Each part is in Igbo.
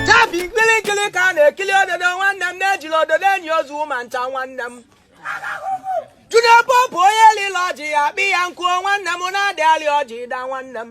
Tabi nkirikiri ka a na-ekiri ododo nwanne m na ejirọ ododo eni ozu ma ncha nwanne m Junior Pope onye lịlị ọjị ya kpa ya nkụ o nwanne m na adị alị ọjị daa nwanne m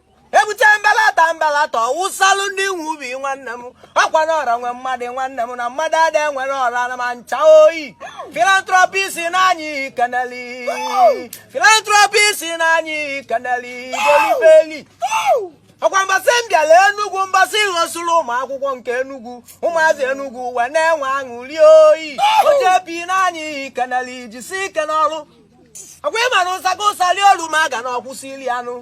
ebute mbalata mbalata ọwụsalụ ndị nwe ubi nwanne m ọkwa na ọra nwe mmadụ nwanne m na mmadụ ada enwere ọra na ma ncha oyi philanthropist n'anyị keneli philanthropist n'anyị keneli golibeli ọkwa mbọsị m bịara enugwu mbọsị ị hostụrụ ụmụ akwụkwọ nke enugwu ụmụazị enugwu wee na-enwe aṅụli oyi o JP n'anyị keneli jisi ike n'ọrụ ọkwa ị mara ụsaga ụsali olu ma a ga na ọkwụsị ili anụ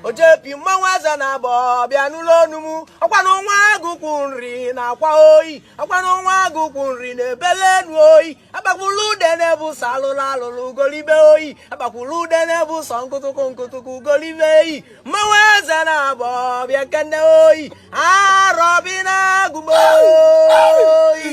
o JP mmanwụ eze na abọ bịa n'ụlọ onu m ọkwa na nwa agụkwụ nri na akwa oyi ọkwa na nwa agụkwụ nri na ebele enu oyi akpakwulu ude na-ebu sọ alụlụ alụlụ golibe oyi akpakwulu ude na-ebu sọ nkụtụkụ nkụtụkụ golibe eyi mmanwụ eze na abọ bịa kene oyi arọbịnagụ o oyi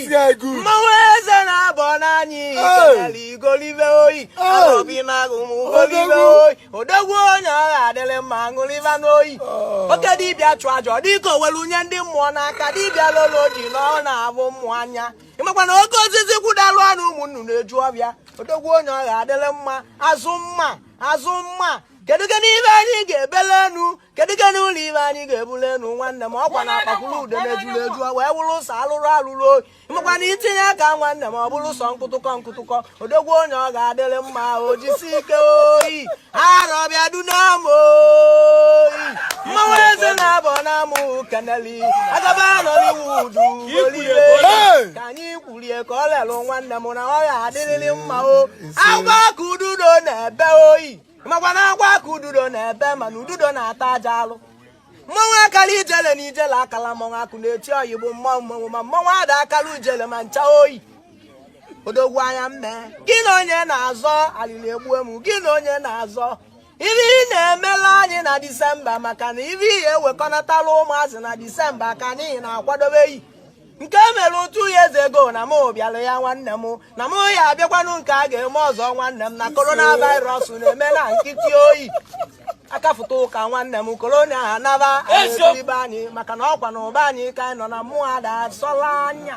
mmanwụ eze na abọ n'anyị keneli golibe oyi arọbịnagụ m golibe oyi odogwu onye ọ ga-adịrị mma ṅụrịba n'oyi oh. oke dibịa chụọ aja ọ dịka o were nye ndị mmụọ n'aka dibịa lolo ji na ọ na-afụ mmụọ anya ịmakwa na oke osisi kwụdalụ anị ụmụ nnụnụ eju ọfịa odogwu onye ọ ga-adịrị mma azụ mma azụ mma kedu gị n'ibe anyị ga-ebele enu kedu gị n'ụlọ ibe anyị ga-ebule enu nwanne m ọkwa na akpakwuru ude na-ejuru eju wee wụrụ ụsọ alụrụ alụrụ oyi makwa na itinye aka nwanne m ọ bụrụ ụsọ nkụtụkọ nkụtụkọ odogwu onye ọ ga-adịrị mma o jisi ike oyi arọbịa dunam oyi mmanwụ eze na abọ na mụ keneli agaba Nollywood ka anyị kwu rie ka ọ lelụ nwanne m na ọ ya adịrịrị mma o agwa ka ududo na-ebe oyi makwa na agwa ka ududo na-ebe mana ududo na-ata aja alụ mmanwụ akara ijele na ijele akala mmanwụ akwụnechenyi bụ mmanwụ mmanwụ ma mmanwụ ada akara ijele ma ncha oyi odogwu anya mme gị na onye na-azọ alili egbue m gị na onye na-azọ ife ị na-emela anyị na disemba maka na ibe ihe ewekọnatala ụmụazị na disemba ka anyị na-akwadobe yi nke e mere two years ago na m bịara ya nwanne m na m ya abịakwanụ nke a ga-eme ọzọ nwanne m na coronavirus na-eme na nkịtị oyi akafụta ụka nwanne m corona anaba ibe anyị maka na ọkwa na ụba anyị ka anyị nọ na mmụọ ada asọla anya